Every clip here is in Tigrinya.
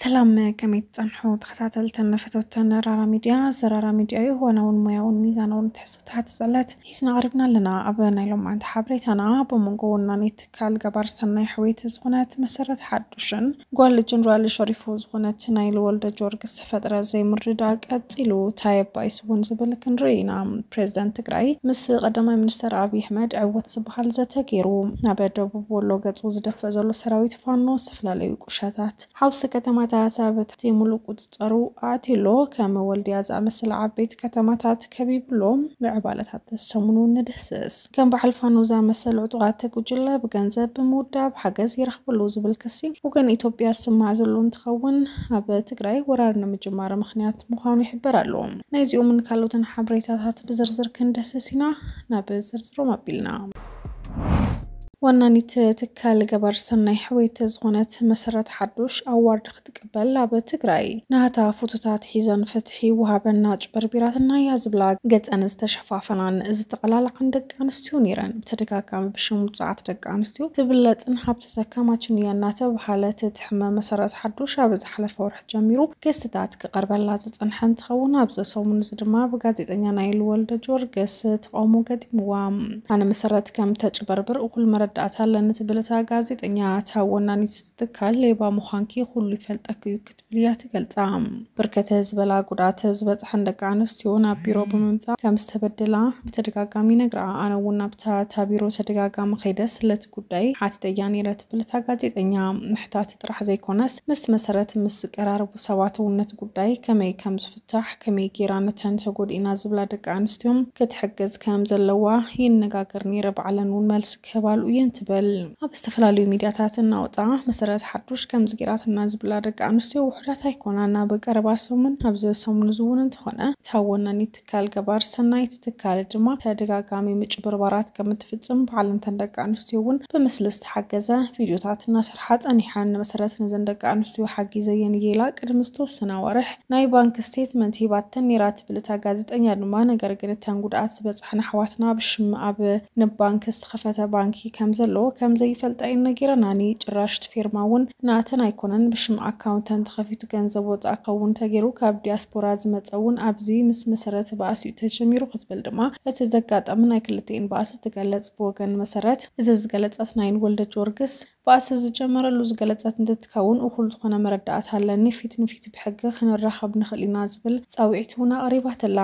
ሰላም ከመይ ትጸንሑ ተኸታተልትን ፈተውትን ራራ ሚድያ ዘራራ ሚድያ እዩ ዋናውን ሞያውን ሚዛናውን ትሕዝቶታት ዝጸለት ሒዝና ቀሪብና ኣለና ኣብ ናይ ሎማዓንቲ ሓበሬታና ብመንጎ ወናኒ ትካል ገባር ሰናይ ሕወይቲ ዝኾነት መሰረት ሓዱሽን ጓል ጀነራል ሸሪፉ ዝኾነት ናይ ልወልደ ጆርግስ ፈጥረ ዘይምርድዳእ ቀፂሉ ታይ እባ ይስውን ዝብል ክንርኢ ኢና። ፕሬዝደንት ትግራይ ምስ ቀዳማይ ሚኒስትር ኣብይ ኣሕመድ ዕውት ዝበሃል ዘተ ገይሩ። ናብ ደቡብ ወሎ ገፁ ዝደፍእ ዘሎ ሰራዊት ፋኖ ዝተፈላለዩ ቁሸታት፣ ሓውሲ ከተማታት ኣብ ትሕቲ ሙሉእ ቁፅፀሩ ኣእትዩ ኣሎ። ከም ወልድያ ዝኣመሰላ ዓበይቲ ከተማታት፣ ከቢብሎም ምዕባለታት ተሰሙኑ ንድህስስ ከም በዓል ፋኖዛ መሰል ዕጡቓት ጉጅለ ብገንዘብ ብምውዳብ ሓገዝ ይረኽበሉ ዝብል ክሲ ወገን ኢትዮጵያ ዝስማዕ ዘሎ እንትኸውን ኣብ ትግራይ ወራር ንምጅማር ምክንያት ምዃኑ ይሕበር ኣሎ። ናይዚኦምን ካልኦትን ሓበሬታታት ብዝርዝር ክንድህስስ ኢና። ናብ ዝርዝሮም ኣቢልና ዋናኒት ትካል ገባር ሰናይ ሕወየት ዝኾነት መሰረት ሓዱሽ ኣዋርድ ክትቅበል ኣብ ትግራይ ናህታ ፉቱታት ሒዘን ፍትሒ ይወሃበና ኣጭበርቢራትና እያ ዝብላ ገፀን ዝተሸፋፈናን ዝተቐላልዓን ደቂ ኣንስትዮ ነይረን። ብተደጋጋሚ ብሽም ውፁዓት ደቂ ኣንስትዮ ትብለፅን ሃብቲ ዘካማችን እያ እናተብሃለ ትትሕመ መሰረት ሓዱሽ ኣብ ዝሓለፈ ወርሒ ጀሚሩ ክስታት ክቐርበላ ዝፀንሐ እንትኸውን ኣብዚ ሰሙን እዚ ድማ ብጋዜጠኛ ናይል ወልደጀወርግስ ተቓውሞ ገጢምዋ ኣነ መሰረት ከም ተጭበርብር እኹል መረዳእታ ኣለኒ ትብል እታ ጋዜጠኛ እታ ወናኒት ትካል ሌባ ምዃንኪ ኩሉ ይፈልጠኪ እዩ ክትብል እያ ትገልጻ። ብርከት ዝበላ ጉድኣት ዝበፅሐን ደቂ ኣንስትዮ ናብ ቢሮ ብምምፃእ ከምዝተበደላ ብተደጋጋሚ ይነግራ። ኣነ እውን ናብታ እታ ቢሮ ተደጋጋሚ ከይደ ስለቲ ጉዳይ ሓቲተያ ነይረ ትብል እታ ጋዜጠኛ። ምሕታት ጥራሕ ዘይኮነስ ምስ መሰረት ምስ ዝቀራረቡ ሰባት እውን ነቲ ጉዳይ ከመይ ከምዝፍታሕ፣ ከመይ ገይራ ነተን ተጎዲእና ዝብላ ደቂ ኣንስትዮ ክትሕግዝ ከምዘለዋ ይነጋገር ነይረ፣ ባዕለን እውን መልሲ ከባልኡ እየን ትበል። ኣብ ዝተፈላለዩ ሚድያታት እናወፅኣ መሰረት ሓዱሽ ከምዚ ገይራትና ዝብላ ደቂ ኣንስትዮ ውሑዳት ኣይኮናን። ኣብ ቀረባ ሰሙን ኣብዚ ሰሙን እዚ እውን እንተኾነ እታ ወናኒት ትካል ገባር ሰናይ እቲ ትካል ድማ ተደጋጋሚ ምጭብርባራት ከም እትፍፅም ባዕለን እተን ደቂ ኣንስትዮ እውን ብምስሊ ዝተሓገዘ ቪድዮታት እናሰርሓ ፀኒሐን። መሰረት ነዘን ደቂ ኣንስትዮ ሓጊዘየን እየ ኢላ ቅድሚ ዝተወሰነ ኣዋርሕ ናይ ባንክ ስቴትመንት ሂባተን ኔራ ትብል እታ ጋዜጠኛ ድማ ነገር ግን እተን ጉድኣት ዝበፅሐን ኣሕዋትና ብሽም ኣብ ንባንክ ዝተኸፈተ ባንኪ ከምዘለዎ ከምዘይፈልጣ እየን ነጊረናኒ ጭራሽ ትፌርማ እውን ናተን ኣይኮነን ብሽም ኣካውንተን ተኸፊቱ ገንዘብ ወፃእ ክኸውን ተጌሩ ካብ ዲያስፖራ ዝመፀ እውን ኣብዚ ምስ መሰረት ባእሲ እዩ ተጀሚሩ ክትብል ድማ እቲ ዘጋጠመ ናይ ክልቲኤን ባእሲ ትገለፅ ብወገን መሰረት እዚ ዝገለፀት ናይን ወልደጀወርግስ ባእሲ ዝጀመረሉ ዝገለጸት እንትትከውን፣ እኹል ዝኾነ መረዳእታ ኣለኒ፣ ፊት ንፊት ብሕጊ ክንራኸብ ንኽእል ኢና ዝብል ጻውዒት እውን ኣቕሪባትላ።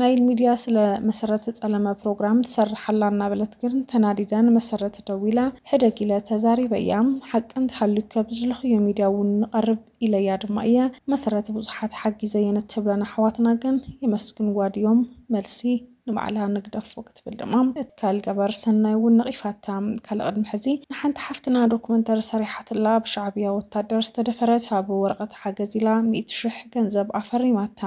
ናይል ሚድያ ስለ መሰረት ዝጸለመ ፕሮግራም ትሰርሕ ኣላ እናበለት ግን ተናዲደ ንመሰረት ደዊለ ሕደግ ኢለ ተዛሪበያ። ሓቂ እንተሃልዩከ ብዝለኹዮ ሚድያ እውን ንቐርብ ኢለያ ድማ እየ። መሰረት ብዙሓት ሓጊዘየን እትብለን ኣሕዋትና ግን የመስግንዋ ድዮም? መልሲ። ንባዕላ ንግደፎ ክትብል ድማ ትካል ገበር ሰናይ እውን ነቒፋታ። ካልእ ቅድሚ ሕዚ ንሓንቲ ሓፍትና ዶክመንተሪ ሰሪሓትላ ብሻዕብያ ወታደር ዝተደፈረት ኣብ ወረቐት ሓገዝ ኢላ ሚእቲ ሽሕ ገንዘብ ኣፈሪማታ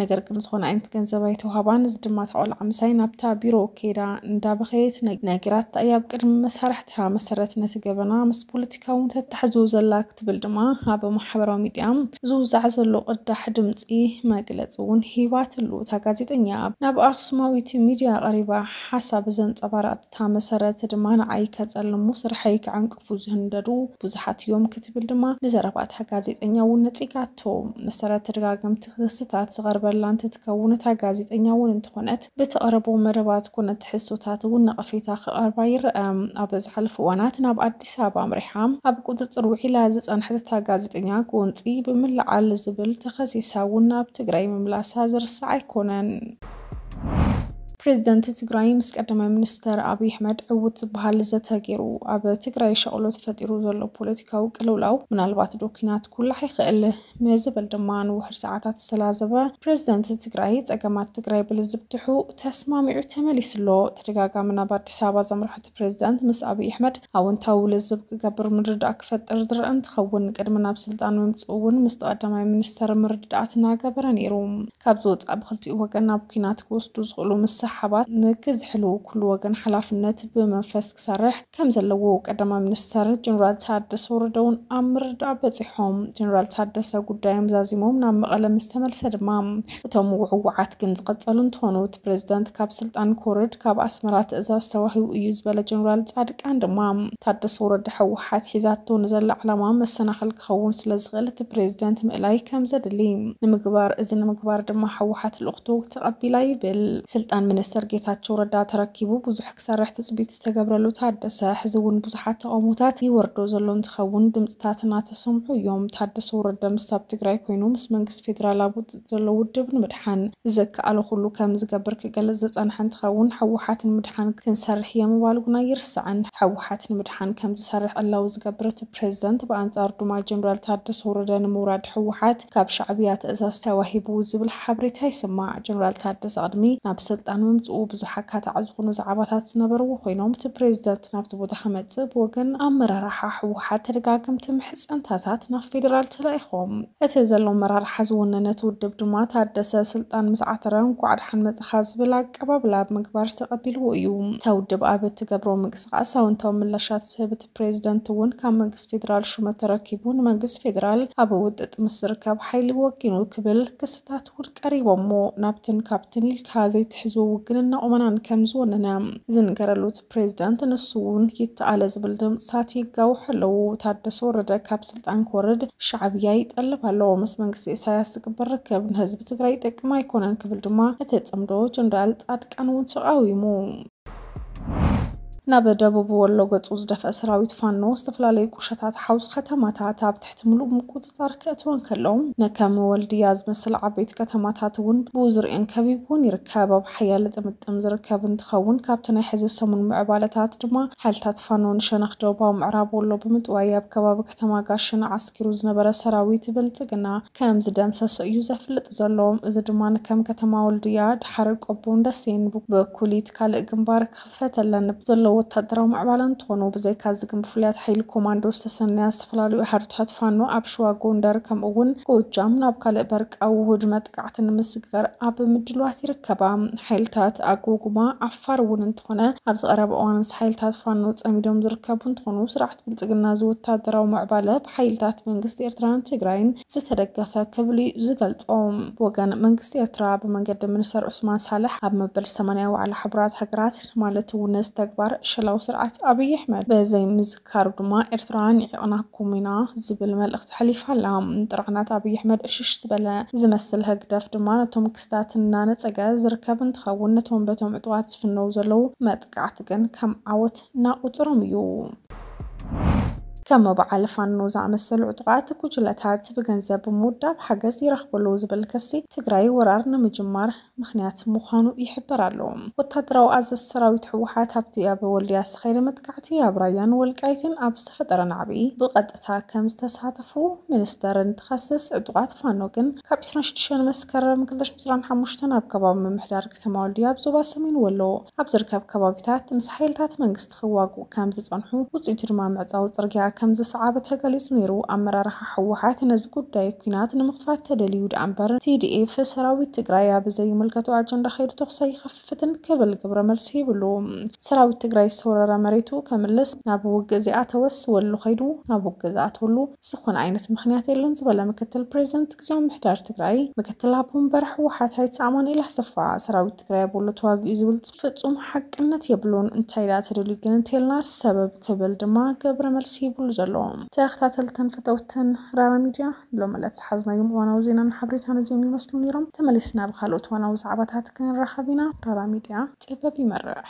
ነገር ግን ዝኾነ ኣይነት ገንዘብ ኣይተውሃባን እዚ ድማ እታ ቆልዓ ምሳይ ናብታ ቢሮ ከይዳ እንዳበኸየት ነጊራታ እያ ኣብ ቅድሚ መሳርሕታ መሰረት ነቲ ገበና ምስ ፖለቲካ ካብኡ ተታሕዞ ዘላ ክትብል ድማ ኣብ ማሕበራዊ ሚዲያ ዝውዛዕ ዘሎ ቅዳሕ ድምፂ መግለፂ እውን ሂባትሉ። እታ ጋዜጠኛ ናብ ኣክሱማዊት ሚዲያ ቀሪባ ሓሳብ ዘንፀባረቐትታ መሰረት ድማ ንዓይ ከፀልሙ ስርሐይ ከዐንቅፉ ዝህንደዱ ብዙሓት እዮም ክትብል ድማ ንዘረባታ ጋዜጠኛ እውን ነፂጋቶ። መሰረት ተደጋገምቲ ክስታት ዝቐርበላ እንትትከውን እታ ጋዜጠኛ እውን እንተኾነት ብተቕርቦ መደባት ኮነ ትሕዝቶታት እውን ነቐፌታ ክቐርባ ይረኣ። ኣብ ዝሓለፉ እዋናት ናብ ኣዲስ ኣበባ ኣምሪሓ ኣብ ቁፅፅር ውዒላ ዝፀንሐት እታ ጋዜጠኛ ጎንፂ ብምልዓል ዝብል ተኸሲሳ እውን ናብ ትግራይ ምምላሳ ዝርሳዕ ኣይኮነን። ፕሬዝደንት ትግራይ ምስ ቀዳማይ ሚኒስተር ኣብይ ኣሕመድ ዕዉት ዝበሃል ዘተ ገይሩ። ኣብ ትግራይ ሻቕሎት ፈጢሩ ዘሎ ፖለቲካዊ ቅልውላው ምናልባት ዶ ኲናት ኩላሕ ይኽእል? ንዝብል ድማ ንውሑድ ሰዓታት ዝተላዘበ ፕረዚደንት ትግራይ ፀገማት ትግራይ ብልዝብ ድሑ ተስማሚዑ ተመሊሱ ኣሎ። ተደጋጋሚ ናብ ኣዲስ ኣበባ ዘምርሐ እቲ ፕረዚደንት ምስ ኣብይ ኣሕመድ ኣወንታዊ ልዝብ ክገብር ምርድዳእ ክፈጥር ዝረኣ እንትኸውን ቅድሚ ናብ ስልጣን ምምፅኡ እውን ምስቲ ቀዳማይ ሚኒስተር ምርድዳኣት እናገበረ ነይሩ። ካብዚ ወፃኢ ብኽልቲኡ ወገን ናብ ኲናት ክወስዱ ዝኽእሉ ምስሕሓባት ንክዝሕልው ኩሉ ወገን ሓላፍነት ብመንፈስ ክሰርሕ ከም ዘለዎ ቀዳማይ ሚኒስተር ጀኔራል ታደሰ ወረደ እውን ኣብ ምርዳእ በፂሖም ጀኔራል ታደሰ ጉዳዮም ዛዚሞም ናብ መቐለ ምስ ተመልሰ ድማ እቶም ውዕዋዓት ግን ዝቐፀሉ እንትኾኑ እቲ ፕሬዝዳንት ካብ ስልጣን ክወርድ ካብ ኣስመራ ትእዛዝ ተዋሂቡ እዩ ዝበለ ጀኔራል ፃድቃን ድማ ታደሰ ወረደ ህወሓት ሒዛቶ ንዘላ ዕላማ መሰናኸል ክኸውን ስለዝኽእል እቲ ፕሬዝዳንት ምእላይ ከምዘድሊ ንምግባር እዚ ንምግባር ድማ ህወሓት ልኡኽቶ ተቐቢላ ይብል ስልጣን ሚኒስተር ጌታቸው ረዳ ተረኪቡ ብዙሕ ክሰርሕ ትፅቢት ዝተገብረሉ ታደሰ ሕዚ እውን ብዙሓት ተቓውሞታት ይወርዶ ዘሎ እንትኸውን ድምፅታት እናተሰምዑ እዮም። ታደሰ ወረደ ምስቲ ኣብ ትግራይ ኮይኑ ምስ መንግስቲ ፌዴራል ኣብ ውጥጥ ዘሎ ውድብ ንምድሓን ዝከኣሎ ኩሉ ከምዝገብር ክገልፅ ዝፀንሐ እንትኸውን ህወሓት ንምድሓን ክንሰርሕ እየ ምባሉ ግን ኣይርሳዕን። ህወሓት ንምድሓን ከምዝሰርሕ ዕላዊ ዝገብር እቲ ፕሬዝደንት ብኣንፃሩ ድማ ጀነራል ታደሰ ወረደ ንምውራድ ህወሓት ካብ ሻዕብያ ትእዛዝ ተዋሂቡ ዝብል ሓብሬታ ይስማዕ። ጀነራል ታደሰ ቅድሚ ናብ ስልጣን ምምፅኡ ብዙሕ ኣካታዒ ዝኾኑ ዛዕባታት ዝነበርዎ ኮይኖም እቲ ፕሬዚደንት ናብቲ ቦታ ክመፅእ ብወገን ኣመራርሓ ህወሓት ተደጋገምቲ ምሕፀንታታት ናብ ፌደራል ተላኢኾም። እቲ ዘሎ ኣመራርሓ ዝወነነ እቲ ውድብ ድማ ታደሰ ስልጣን ምስ ዓተረ እንኳዕ ደሓን መፃኻ ዝብል ኣቀባብላ ብምግባር ተቐቢልዎ እዩ። እታ ውድብ ኣብ እትገብሮ ምንቅስቓስ ኣወንታዊ ምላሻት ዝህብ ፕሬዚደንት እውን ካብ መንግስቲ ፌዴራል ሹመት ተረኪቡ ንመንግስቲ ፌዴራል ኣብ ውጥጥ ምስ ዝርከብ ሓይሊ ወጊኑ ክብል ክስታት እውን ቀሪቦሞ ናብትን ካብትን ኢልካ ዘይትሕዝዎ ውግንና ቁመናን ከም ዝወነነ ዝንገረሉ እቲ ፕሬዚደንት ንሱ እውን ይተኣለ ዝብል ድምፅታት ይጋውሑ ኣለዉ። ታደሰ ወረደ ካብ ስልጣን ክወርድ ሻዕብያ ይጠልብ ኣሎ። ምስ መንግስቲ ኢሳያስ ዝግበር ርክብ ንህዝቢ ትግራይ ይጠቅም ኣይኮነን ክብል ድማ እቲ ፅምዶ ጀነራል ፃድቃን እውን ተቓዊሙ። ናብ ደቡብ ወሎ ገጹ ዝደፍአ ሰራዊት ፋኖ ዝተፈላለዩ ቁሸታት ሓውስ ከተማታት ኣብ ትሕቲ ምሉእ ምቁጽጻር ክእትወን ከለዉ ንከም ወልድያ ዝመስል ዓበይቲ ከተማታት እውን ብዙርየን ከቢብውን ይርከብ ኣብ ሓያለ ጥምጥም ዝርከብ እንትኸውን ካብቲ ናይ ሕዚ ሰሙን ምዕባለታት ድማ ሓይልታት ፋኖ ንሸነኽ ደቡባዊ ምዕራብ ወሎ ብምጥዋይ ኣብ ከባቢ ከተማ ጋሽን ዓስኪሩ ዝነበረ ሰራዊት ብልጽግና ከም ዝደምሰሶ እዩ ዘፍልጥ ዘሎ። እዚ ድማ ከም ከተማ ወልድያ፣ ድሓረ ቆቦን ደሴን ብኩሊት ካልእ ግንባር ክኽፈተለን ዘለዎ ወታደራዊ ምዕባለ እንትኾኑ፣ ብዘይካ እዚ ግን ብፍሉያት ሓይሊ ኮማንዶ ዝተሰነያ ዝተፈላለዩ ሃርድታት ፋኖ ኣብ ሽዋ፣ ጎንደር ከምኡ እውን ጎጃም ናብ ካልእ በርቃዊ ውሁድ መጥቃዕቲ ንምስግጋር ኣብ ምድልዋት ይርከባ። ሓይልታት ኣጎጉማ ዓፋር እውን እንትኾነ ኣብዚ ቀረባ እዋን ምስ ሓይልታት ፋኖ ፀሚዶም ዝርከቡ እንትኾኑ፣ ስርዓት። ብልፅግና እዚ ወታደራዊ ምዕባለ ብሓይልታት መንግስቲ ኤርትራን ትግራይን ዝተደገፈ ክብል እዩ ዝገልፆ። ብወገን መንግስቲ ኤርትራ ብመንገዲ ሚኒስተር ዑስማን ሳልሕ ኣብ መበል ሰማንያ ዋዕላ ሕቡራት ሃገራት ማለት እውን ነዚ ተግባር ዕሸላዊ ስርዓት ኣብይ ኣሕመድ ብዘይምዝካሩ ድማ ኤርትራ ኒዒቕናኩም ኢና ዝብል መልእኽቲ ኣሕሊፋ ኣላ። ንጥርዓናት ኣብይ ኣሕመድ ዕሽሽ ዝበለ ዝመስል ህግደፍ ድማ ነቶም ክስታት እናነፀገ ዝርከብ እንትኸውን ነቶም በቶም ዕጡቓት ዝፍነዉ ዘለዉ ጥቅዓት ግን ከም ዓወት ናቁጽሮም እዩ። ከም በዓል ፋኖ ዝኣመሰሉ ዕጡቓት ጉጅለታት ብገንዘብ ብምውዳብ ሓገዝ ይረኽብሉ ዝብል ክሲ ትግራይ ወራር ንምጅማር ምኽንያት ምዃኑ ይሕበር ኣሎ። ወታደራዊ ኣዘዝቲ ሰራዊት ህወሓት ኣብቲ ኣብ ወልድያ ዝተኻየደ መጥቃዕቲ ኣብ ራያን ወልቃይትን ኣብ ዝተፈጠረ ናዕቢ ብቐጥታ ከም ዝተሳተፉ ሚኒስተር እንትኸስስ ዕጡቓት ፋኖ ግን ካብ ዕስራን ሽዱሽተን መስከረም ክልተ ሽሕን ዕስራን ሓሙሽተን ኣብ ከባቢ ምምሕዳር ከተማ ወልድያ ኣብ ዞባ ሰሜን ወሎ ኣብ ዝርከብ ከባቢታት ምስ ሓይልታት መንግስቲ ክዋግኡ ከም ዝጸንሑ፣ ውጽኢቱ ድማ ምዕጻው ጽርግያ ከም ዝሰዓበ ተገሊጹ ነይሩ። ኣመራርሓ ህወሓት ነዚ ጉዳይ ኲናት ንምኽፋት ተደልዩ ደኣ'ምበር፣ TDF ሰራዊት ትግራይ ኣብ ዘይምልከቶ ኣጀንዳ ከይዱ ተኹሲ ኣይኸፍትን ክብል ግብረ መልሲ ሂብሉ። ሰራዊት ትግራይ ዝተወረረ መሬቱ ከምልስ፣ ናብ ውግእ ዘይኣተወስ ወሎ ከይዱ ናብ ውግእ ዝኣትወሉ ዝኾነ ዓይነት ምኽንያት የለን ዝበለ ምክትል ፕሬዚደንት ግዝያዊ ምምሕዳር ትግራይ ምክትል ኣቦ ወንበር ህወሓት ኣይተ ኣማኑኤል ኣሰፋ፣ ሰራዊት ትግራይ ቦሎ ተዋጊኡ ዝብል ፍፁም ሓቅነት የብሉን እንታይ ደኣ ተደልዩ ግን እንተልና ሰበብ ክብል ድማ ገብረ መልሲ ይብሉ ዘሎ ተኸታተልትን ፈተውትን ራራ ሚድያ ሎም ዕለት ዝሓዝናዮም እዋናዊ ዜናን ሓበሬታን እዚኦም ይመስሉ ነይሮም ተመሊስና ብካልኦት እዋናዊ ዛዕባታት ክንራኸብ ኢና ራራ ሚድያ ጥበብ ይመርሕ